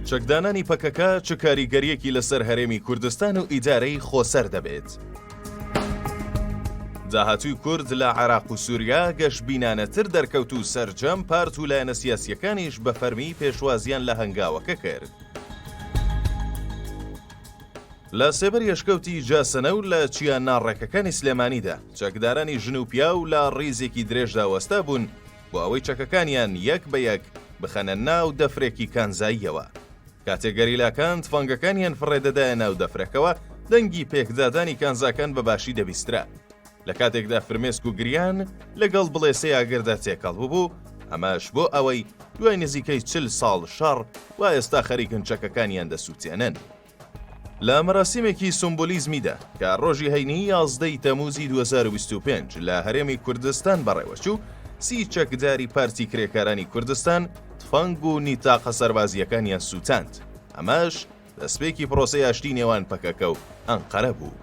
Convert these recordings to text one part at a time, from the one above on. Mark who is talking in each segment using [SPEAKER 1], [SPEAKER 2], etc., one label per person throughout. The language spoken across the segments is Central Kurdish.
[SPEAKER 1] چەکدانانی پەکەکە چ کاریگەریەکی لەسەر هەرێمی کوردستان و ئیدارەی خۆسەر دەبێت. داهاتوی کورد لە عراق و سووریا گەشت بینانەتر دەرکەوت و سەرجەم پارت و لایەنە سیاسیەکانیش بە فەرمی پێشوازیان لە هەنگاوەکە کرد. لە سێبەری ئەشکەوتی جاسەنە و لە چیا ناڕێکەکانی سلێمانیدا، چەکدارانی ژن و پیاو لە ڕیزێکی درێژدا وەستا بوون بۆ ئەوەی چەکەکانیان یەک بە یەک بخەنە ناو دەفرێکی کانزاییەوە. کاتێک گەریلاکان تفەنگەکانیان فڕێدەدایە ناو دەفرەکەوە، دەنگی پێکدادانی کانزاکان بە باشی دەبیسترا. لە کاتێکدا فرمێسک و گریان لەگەڵ بڵێسەی ئاگردا تێکەڵ ببوو، ئەمەش بۆ ئەوەی دوای نزیکەی چل ساڵ شەڕ، وا ئێستا خەریکن چەکەکانیان دەسووتێنن. لە مەراسیمێکی سومبولیزمیدا کە ڕۆژی هەینی یازدە ی تەمووزی دوو هەزار و بیست و پێنج لە هەرێمی کوردستان بەڕێوەچوو، سی چەکداری پارتی کرێکارانی کوردستان تفەنگ و نیتاقە سەربازییەکانیان سووتاند، ئەمەش دەسپێکی پرۆسەی ئاشتی نێوان پەکەکە و ئەنقەرە بوو.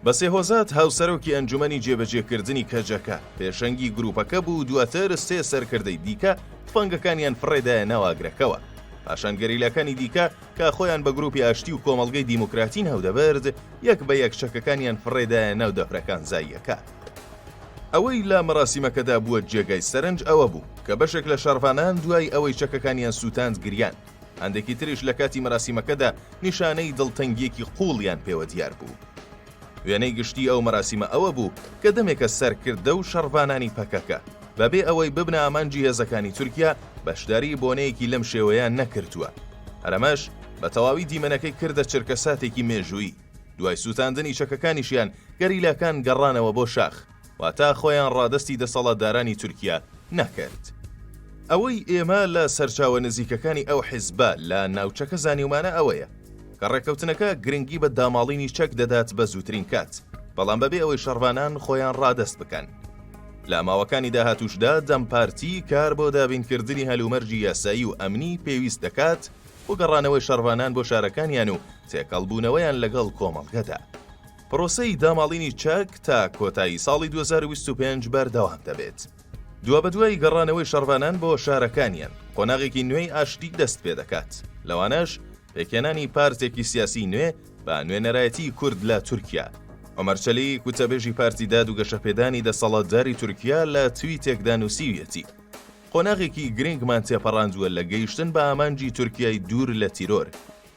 [SPEAKER 1] بەسێ هۆزات، هاوسەرۆکی ئەنجومەنی جێبەجێکردنی کەجەکە، پێشەنگی گروپەکە بوو، دواتر سێ سەرکردەی دیکە تفەنگەکانیان فڕێدایە ناو ئاگرەکەوە، پاشان گەریلاکانی دیکە، کە خۆیان بە گروپی ئاشتی و کۆمەڵگەی دیموکراتی ناودەبرد یەک بە یەک چەکەکانیان فڕێدایە ناو دەفرەکان زاییەکە. ئەوەی لە مەراسیمەکەدا بووە جێگای سەرنج ئەوە بوو کە بەشێک لە شەڕڤانان دوای ئەوەی چەکەکانیان سووتاند گریان، هەندێکی تریش لە کاتی مەراسیمەکەدا نیشانەی دڵتەنگییەکی قووڵیان پێوە دیار بوو. وێنەی گشتی ئەو مەراسیمە ئەوە بوو کە دەمێکە سەرکردە و شەڕڤانانی پەکەکە بەبێ ئەوەی ببنە ئامانجی هێزەکانی تورکیا بەشداری بۆنەیەکی لەم شێوەیە نەکردووە هەرەمەش بە تەواوی دیمەنەکەی کردە چرکە ساتێکی مێژووی دوای سووتاندنی چەکەکانیشیان گەریلاکان گەڕانەوە بۆ شاخ واتا خۆیان ڕادەستی دەسەڵاتدارانی تورکیا ناکرد. ئەوەی ئێمە لە سەرچاوە نزیکەکانی ئەو حیزبە لە ناوچەکە زانیومانە ئەوەیە کە ڕێکەوتنەکە گرنگی بە داماڵینی چەک دەدات بە زووترین کات، بەڵام بەبێ ئەوەی شەڕڤانان خۆیان ڕادەست بکەن. لە ماوەکانی داهاتووشدا دەم پارتی کار بۆ دابینکردنی هەلومەرجی یاسایی و ئەمنی پێویست دەکات بۆ گەڕانەوەی شەڕڤانان بۆ شارەکانیان و تێکەڵبوونەوەیان لەگەڵ کۆمەڵگەدا. پرۆسەی داماڵینی چەک تا کۆتایی ساڵی 2025 بەردەوام دەبێت. دوابەدوای گەڕانەوەی شەڕڤانان بۆ شارەکانیان قۆناغێکی نوێی ئاشتی دەست پێ دەکات لەوانەش پێکێنانی پارتێکی سیاسی نوێ بە نوێنەرایەتی کورد لە تورکیا ئۆمەرچەلی کوتەبێژی پارتی داد و گەشەپێدانی دەسەڵاتداری تورکیا لە توی تێکدا نووسیویەتی قۆناغێکی گرنگمان تێپەڕاندووە لە گەیشتن بە ئامانجی تورکای دوور لە تیرۆر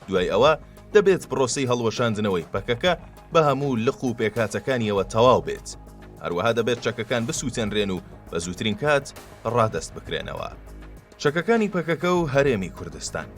[SPEAKER 1] دوای ئەوە دەبێت پرۆسەی هەڵوەشاندنەوەی پەکەکە بە هەموو لق و پێکهاتەکانیەوە تەواو بێت، هەروەها دەبێت چەکەکان بسووتێنرێن و بە زووترین کات ڕادەست بکرێنەوە. چەکەکانی پەکەکە و هەرێمی کوردستان.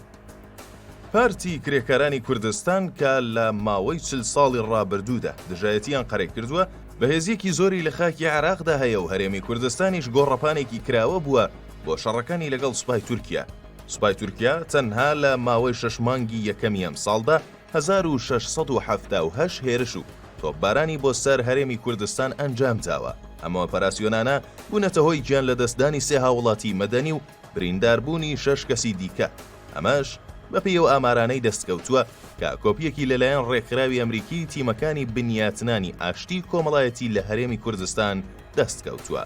[SPEAKER 1] پارتی کرێکارانی کوردستان کە لە ماوەی چل ساڵی ڕابردوودا دژایەتییان قەرەی کردووە، بەهێزییەکی زۆری لە خاکی عێراقدا هەیە و هەرێمی کوردستانیش گۆڕەپانێکی کراوە بووە بۆ شەڕەکانی لەگەڵ سوپای تورکیا، سوپای تورکیا تەنها لە ماوەی شەش مانگی یەکەمی ئەمساڵدا هەزار و شەش سەد و حەفتا و هەشت هێرش و تۆپبارانی بۆ سەر هەرێمی کوردستان ئەنجام داوە، ئەم ئۆپەراسیۆنانە بوونەتە هۆی گیانلەدەستدانی سێ هاووڵاتیی مەدەنی و برینداربوونی شەش کەسی دیکە، ئەمەش بەپێی ئەو ئامارانەی دەستکەوتووە کە کۆپیەکی لەلایەن ڕێکخراوی ئەمریکیی تیمەکانی بنیاتنانی ئاشتیی کۆمەڵایەتی لە هەرێمی کوردستان دەستکەوتووە.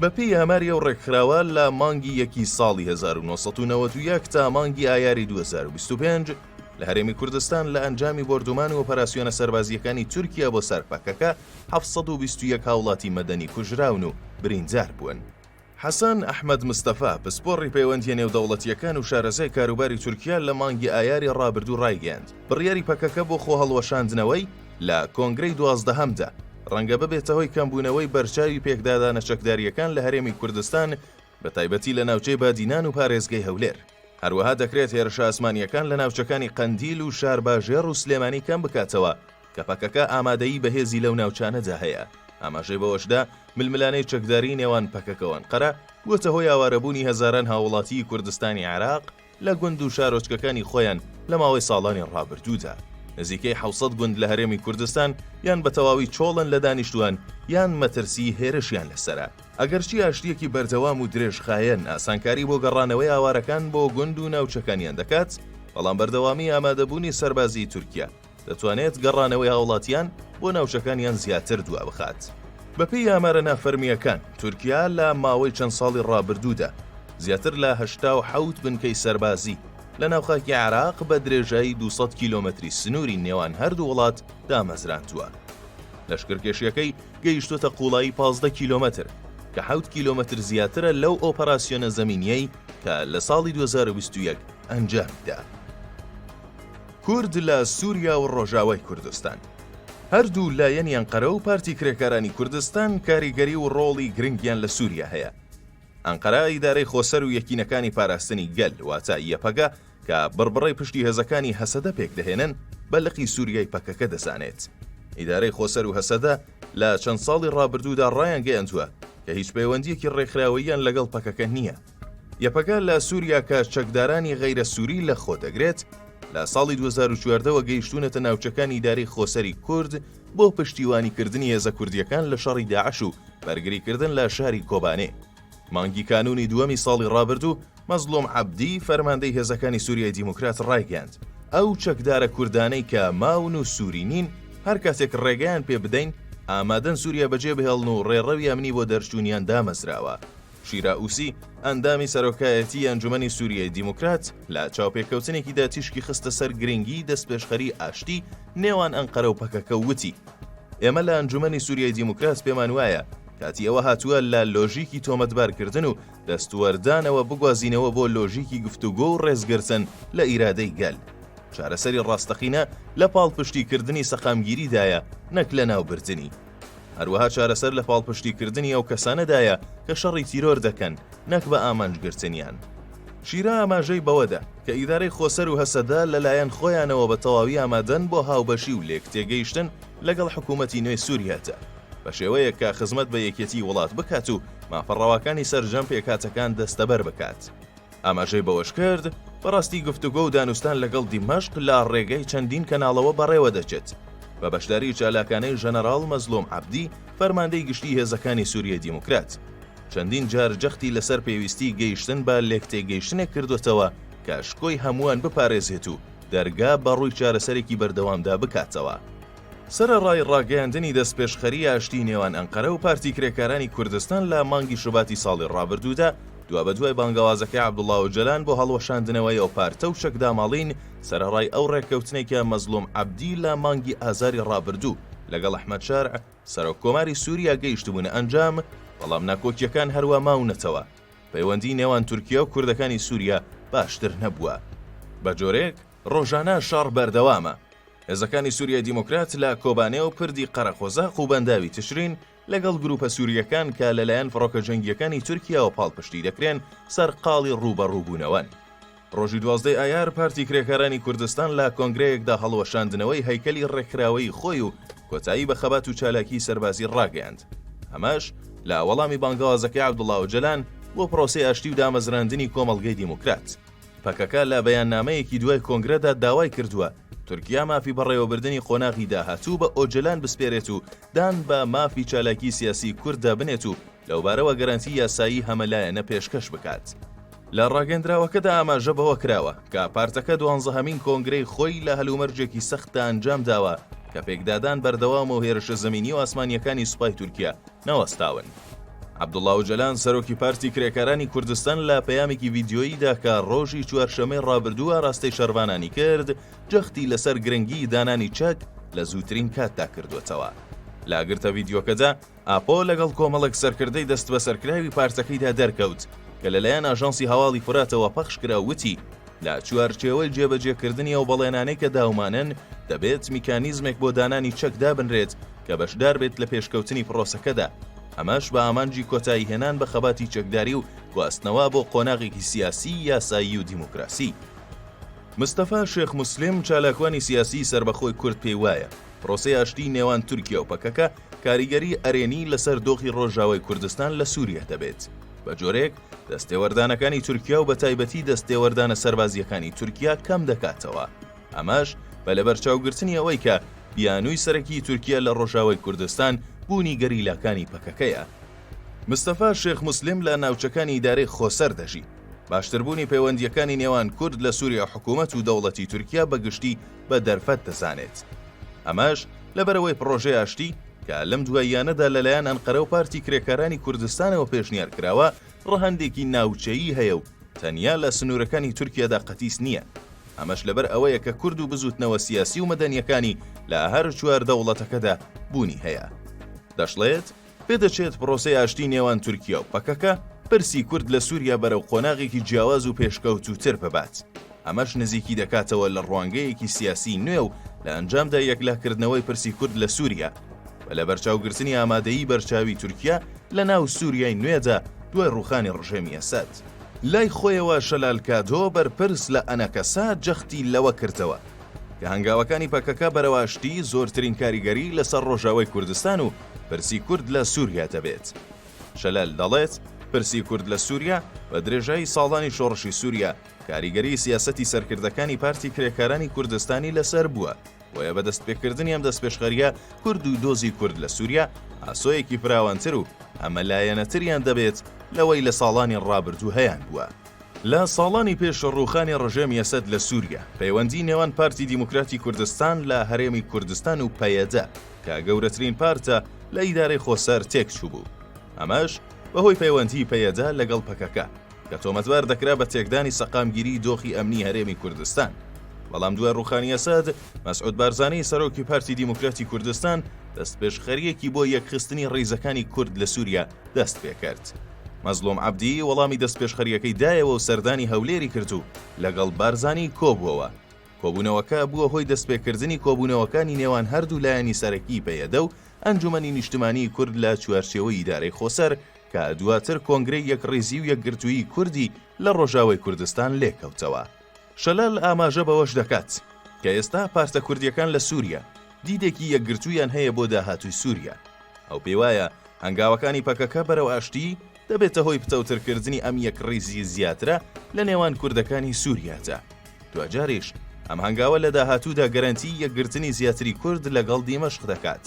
[SPEAKER 1] بەپێی ئاماری ئەو ڕێکخراوە لە مانگی یەکی ساڵی 1990 تا مانگی ئایاری 2025 لە هەرێمی کوردستان لە ئەنجامی بردومان و پەراسیۆنە سەربازیەکانی تورکیا بۆ سەرپەکەکە 1920 هاوڵاتی مەدەنی کوژراون و بریندار بوون. حەسەن ئەحمەد مستەفا پسپۆڕی پەیوەندیە نێودەوڵەتیەکان و شارەزای کاروباری تورکیا لە مانگی ئایاری ڕابردوو ڕایگەیاند بڕیاری پەکەکە بۆ خۆ هەڵوەشاندنەوەی لە کۆنگرەی دوازدەهەمدا، ڕەنگە ببێتە هۆی کەمبوونەوەی بەرچاوی پێکدادانە چەکدارییەکان لە هەرێمی کوردستان بە تایبەتی لە ناوچەی بادینان و پارێزگەی هەولێر. هەروەها دەکرێت هێرشە ئاسمانییەکان لە ناوچەکانی قەندیل و شارباژێڕ و سلێمانی کەم بکاتەوە کە پەکەکە ئامادەیی بەهێزی لەو ناوچانەدا هەیە. ئاماژەی بەوەشدا ململانێی چەکداری نێوان پەکەکەوانقەرە بووەتە هۆی ئاوارەبوونی هەزاران هاووڵاتیی کوردستانی عێراق، لە گوند و شارۆچکەکانی خۆیان لە ماوەی ساڵانی ڕابردوودا. نزیکەی حەوت سەد گوند لە هەرێمی کوردستان یان بە تەواوی چۆڵن لە دانیشتووان یان مەترسیی هێرشیان لەسەرە. ئەگەرچی ئاشتییەکی بەردەوام و درێژخایەن ئاسانکاری بۆ گەڕانەوەی ئاوارەکان بۆ گوند و ناوچەکانیان دەکات، بەڵام بەردەوامیی ئامادەبوونی سەربازیی تورکیا، دەتوانێت گەڕانەوەی هاوڵاتیان بۆ ناوچەکانیان زیاتر دوا بخات. بەپێی ئامارە نافەرمییەکان، تورکیا لە ماوەی چەند ساڵی ڕابردوودا زیاتر لە هەشتا و حەوت بنکەی سەربازی لە ناوخاکی عێراق بە درێژایی 200 کیلۆمەتری سنووری نێوان هەردوو وڵات دامەزراندووە. لەشکرکێشیەکەی گەیشتوتە قوڵایی 15 کیلۆمەتر کە حەوت کیلۆمەتر زیاترە لەو ئۆپەراسیۆنە زەمینیەی کە لە ساڵی 2021 ئەنجامیدا. کورد لە سوریا و ڕۆژاوای کوردستان. هەردوو لایەنی ئەنقەرە و پارتی کرێکارانی کوردستان کاریگەری و ڕۆڵی گرنگیان لە سوریا هەیە. ئەنقەرە ئیدارەی خۆسەر و یەکینەکانی پاراستنی گەل واتە یەپەگە کە بڕبڕەی پشتی هێزەکانی هەسەدە پێکدەهێنن بە لقی سوریای پەکەکە دەزانێت. ئیدارەی خۆسەر و هەسەدە لە چەند ساڵی ڕابردوودا ڕایانگەیاندووە کە هیچ پەیوەندییەکی ڕێکخراوەییان لەگەڵ پەکەکە نییە. یەپەگە لە سووریا کە چەکدارانی غەیرە سووری لە خۆ دەگرێت، لە ساڵی 2014ەوە گەیشتوونەتە ناوچەکانی ئیدارەی خۆسەری کورد بۆ پشتیوانیکردنی هێزە کوردییەکان لە شەڕی داعش و بەرگریکردن لە شاری کۆبانێ. مانگی کانوونی دووەمی ساڵی ڕابردوو، مەزڵوم عەبدی، فەرماندەی هێزەکانی سووریای دیموکرات ڕایگەیاند، ئەو چەکدارە کوردانەی کە ماون و سووری نین، هەر کاتێک ڕێگەیان پێ بدەین، ئامادەن سووریا بەجێبهێڵن و ڕێڕەوی ئەمنی بۆ دەرچوونیان دامەزراوە. شیراوسی، ئەندامی سەرۆکایەتیی ئەنجومەنی سووریای دیموکرات، لە چاوپێکەوتنێکیدا تیشکی خستە سەر گرنگیی دەستپێشخەریی ئاشتی نێوان ئەنقەرە و پەکەکە و وتی، ئێمە لە ئەنجومەنی سووریای دیموکرات پێمان وایە کاتی ئەوە هاتووە لە لۆژیکی تۆمەتبارکردن و دەستوەردانەوە بگوازینەوە بۆ لۆژیکی گفتوگۆ و ڕێزگرتن لە ئیرادەی گەل. چارەسەری ڕاستەقینە لە پاڵپشتیکردنی سەقامگیریدایە نەک لەناوبردنی. هەروەها چارەسەر لە پاڵپشتیکردنی ئەو کەسانەدایە کە شەڕی تیرۆر دەکەن نەک بە ئامانجگرتنیان. شیرا ئاماژەی بەوەدا کە ئیدارەی خۆسەر و هەسەدە لەلایەن خۆیانەوە بە تەواوی ئامادەن بۆ هاوبەشی و لێکتێگەیشتن لەگەڵ حکوومەتی نوێی سووریادا، بە شێوەیەک کە خزمەت بە یەکێتیی وڵات بکات و مافە ڕەواکانی سەرجەم پێکهاتەکان دەستەبەر بکات. ئاماژەی بەوەشکرد، بەڕاستی گفتوگۆ و دانوستان لەگەڵ دیمەشق لە ڕێگەی چەندین کەناڵەوە بەڕێوەدەچێت، بە بەشداری چالاکانەی ژەنەراڵ مەزلوم عەبدی، فەرماندەی گشتی هێزەکانی سوریای دیموکرات، چەندین جار جەختی لەسەر پێویستی گەیشتن بە لێکتێگەیشتنێک کردووەتەوە کە شکۆی هەمووان بپارێزێت و دەرگا بەڕووی چارەسەرێکی بەردەوامدا بکاتەوە. سەرەڕای ڕاگەیاندنی دەستپێشخەریی ئاشتیی نێوان ئەنقەرە و پارتی کرێکارانی کوردستان لە مانگی شوباتی ساڵی ڕابردوودا، دوابەدوای بانگەوازەکەی عەبدوڵا ئۆجەلان بۆ هەڵوەشاندنەوەی ئەو پارتە و چەکداماڵین، سەرەڕای ئەو ڕێککەوتنەی کە مەزڵوم عەبدی لە مانگی ئازاری ڕابردوو لەگەڵ ئەحمەد شەرع، سەرۆککۆماری سووریا گەیشتبوونە ئەنجام، بەڵام ناکۆکییەکان هەروا ماونەتەوە، پەیوەندیی نێوان تورکیا و کوردەکانی سووریا باشتر نەبووە بە جۆرێک، ڕۆژانە شەڕ بەردەوامە، هێزەکانی سوریای دیموکرات لە کۆبانێ و پردی قەرەقۆزاق و بەنداوی تشرین لەگەڵ گروپە سورییەکان کە لەلایەن فڕۆکە جەنگیەکانی تورکیاوە پاڵپشتی دەکرێن سەرقاڵی ڕووبەڕووبوونەوەن. ڕۆژی دوازدەی ئایار پارتی کرێکارانی کوردستان لە کۆنگرەیەکدا هەڵوەشاندنەوەی هەیکەلی ڕێکخراوەیی خۆی و کۆتایی بە خەبات و چالاکی سەربازی ڕاگەیاند ئەمەش لە وەڵامی بانگەوازەکەی عەبدوڵا ئۆجەلان بۆ پرۆسەی ئاشتی و دامەزراندنی کۆمەڵگەی دیموکرات. پەکەکە لە بەیاننامەیەکی دوای کۆنگرەدا داوای کردووە، تورکیا مافی بەڕێوەبردنی قۆناغی داهاتوو بە ئۆجەلان بسپێرێت و دان بە مافی چالاکی سیاسی کورددا بنێت و لەوبارەوە گەرەنتی یاسایی هەمەلایەنە پێشکەش بکات. لە ڕاگەندراوەکەدا ئاماژە بەوە کراوە، کە پارتەکە دوانزەهەمین کۆنگرەی خۆی لە هەلومەرجێکی سەختدا ئەنجامداوە، کە پێکدادان بەردەوامە و هێرشە زەمینی و ئاسمانییەکانی سوپای تورکیا نەوەستاون. عەبدوڵا ئۆجەلان سەرۆکی پارتی کرێکارانی کوردستان لە پەیامێکی ڤیدیۆییدا کە ڕۆژی چوارشەممەی ڕابردوو ئاراستەی شەرڤانانی کرد، جەختی لەسەر گرنگیی دانانی چەک لە زووترین کاتدا کردووەتەوە. لە گرتە ڤیدیۆکەدا، ئاپۆ لەگەڵ کۆمەڵێک سەرکردەی دەستبەسەرکراوی پارتەکەیدا دەرکەوت، کە لەلایەن ئاژانسی هەواڵی فوراتەوە پەخشکرا و وتی، لە چوارچێوەی جێبەجێکردنی ئەو بەڵێنانەی کە داومانن، دەبێت میکانیزمێک بۆ دانانی چەک دابنرێت کە بەشدار بێت لە پێشکەوتنی پڕۆسەکەدا، ئەمەش بە ئامانجی کۆتاییهێنان بە خەباتی چەکداری و گواستنەوە بۆ قۆناغێکی سیاسی، یاسایی و دیموکراسی. مستەفا شێخ موسلیم، چالاکوانی سیاسیی سەربەخۆی کورد پێی وایە، پڕۆسەی ئاشتیی نێوان تورکیا و پەکەکە کاریگەریی ئەرێنیی لەسەر دۆخی ڕۆژاوای کوردستان لە سووریە دەبێت، بە جۆرێک، دەستێوەردانەکانی تورکیا و بەتایبەتی دەستێوەردانە سەربازییەکانی تورکیا کەم دەکاتەوە، ئەمەش بە لەبەرچاوگرتنی ئەوەی کە بیانووی سەرەکی تورکیا لە ڕۆژاوای کوردستان بوونی گەریلاکانی پەکەکەیە. مستەفا شێخ موسلیم لە ناوچەکانی ئیدارەی خۆسەر دەژی. باشتربوونی پەیوەندییەکانی نێوان کورد لە سووریا حکوومەت و دەوڵەتی تورکیا بە گشتی بە دەرفەت دەزانێت. ئەمەش لەبەرئەوەی پڕۆژەی ئاشتی، کە لەم دواییانەدا لەلایەن ئەنقەرە و پارتی کرێکارانی کوردستانەوە پێشنیار کراوە، ڕەهەندێکی ناوچەیی هەیە و تەنیا لە سنوورەکانی تورکیادا قەتیس نییە. ئەمەش لەبەر ئەوەیە کە کورد و بزووتنەوە سیاسی و مەدەنییەکانی لە هەر چوار دەوڵەتەکەدا بوونی هەیە. دەشڵێت، پێدەچێت پرۆسەی ئاشتی نێوان تورکیا و پەکەکە، پرسی کورد لە سووریا بەرەو قۆناغێکی جیاواز و پێشکەوتووتر ببات. ئەمەش نزیکی دەکاتەوە لە ڕوانگەیەکی سیاسی نوێ و لە ئەنجامدا یەکلاکردنەوەی پرسی کورد لە سووریا بە لەبەرچاوگرتنی ئامادەیی بەرچاوی تورکیا لە ناو سووریای نوێدا دوای ڕووخانی ڕژێمی ئەسەد. لای خۆیەوە شەلال کادۆ بەرپرس لە ئەنەکەسە جەختی لەوە کردەوە کە هەنگاوەکانی پەکەکە بەرەو ئاشتی زۆرترین کاریگەری لەسەر ڕۆژاوای کوردستان و پرسی کورد لە سووریا دەبێت. شەلال دەڵێت، پرسی کورد لە سووریا بە درێژایی ساڵانی شۆڕشی سووریا، کاریگەری سیاسەتی سەرکردەکانی پارتی کرێکارانی کوردستانی لەسەر بووە، بۆیە بە دەستپێکردنی ئەم دەستپێشخەرییە کورد و دۆزی کورد لە سووریا ئاسۆیەکی فراوانتر و هەمەلایەنەتریان دەبێت لەوەی لە ساڵانی ڕابردوو هەیانبووە. لە ساڵانی پێش ڕووخانی ڕژێمی ئەسەد لە سووریا، پەیوەندیی نێوان پارتی دیموکراتی کوردستان لە هەرێمی کوردستان و پەیەدە کە گەورەترین پارتە لە ئیدارەی خۆسەر تێکچووبوو، ئەمەش بەهۆی پەیوەندیی پەیەدە لەگەڵ پەکەکە. کە تۆمەتبار دەکرا بە تێکدانی سەقامگیری دۆخی ئەمنی هەرێمی کوردستان. بەڵام دوای ڕوخانی ئەسەد، مەسعود بارزانی سەرۆکی پارتی دیموکراتی کوردستان دەستپێشخەریەکی بۆ یەکخستنی ڕیزەکانی کورد لە سوریا دەست پێکرد. مەزلوم عەبدی وەڵامی دەستپێشخەریەکەی دایەوە و سەردانی هەولێری کرد و لەگەڵ بارزانی کۆبووەوە. کۆبوونەوەکە بووە هۆی دەستپێکردنی کۆبوونەوەکانی نێوان هەردوو لایەنی سەرەکی پەیەدە و ئەنجومەنی نیشتمانی کورد لە چوارچێوەی ئیدارەی خۆسەر، کە دواتر کۆنگرەی یەکڕیزی و یەکگرتوویی کوردی لە ڕۆژاوای کوردستان لێکەوتەوە. شەلال ئاماژە بەوەش دەکات، کە ئێستا پارتە کوردییەکان لە سووریا دیدێکی یەکگرتوویان هەیە بۆ داهاتووی سووریا، ئەو پێیوایە هەنگاوەکانی پەکەکە بەرەو ئاشتی، دەبێتە هۆی پتەوترکردنی ئەم یەکڕیزی زیاترە لە نێوان کوردەکانی سووریادا، دواجاریش ئەم هەنگاوە لە داهاتوودا گەرەنتیی یەکگرتنی زیاتری کورد لەگەڵ دیمەشق دەکات.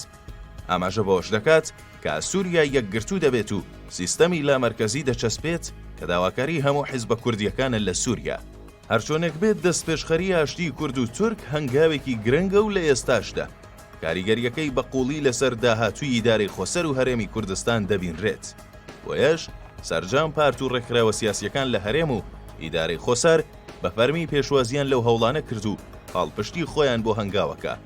[SPEAKER 1] ئاماژە بەوەش دەکات کە سووریا یەکگرتوو دەبێت و سیستەمی لامەرکەزی دەچەسپێت کە داواکاری هەموو حیزبە کوردییەکانە لە سووریا. هەرچۆنێک بێت دەستپێشخەری ئاشتی کورد و تورک هەنگاوێکی گرنگە و لە ئێستاشدا کاریگەرییەکەی بە قووڵی لەسەر داهاتووی ئیدارەی خۆسەر و هەرێمی کوردستان دەبینرێت. بۆیەش سەرجەم پارت و ڕێکخراوە سیاسییەکان لە هەرێم و ئیدارەی خۆسەر بە فەرمی پێشوازییان لەو هەوڵانە کرد و پاڵپشتی خۆیان بۆ هەنگاوەکە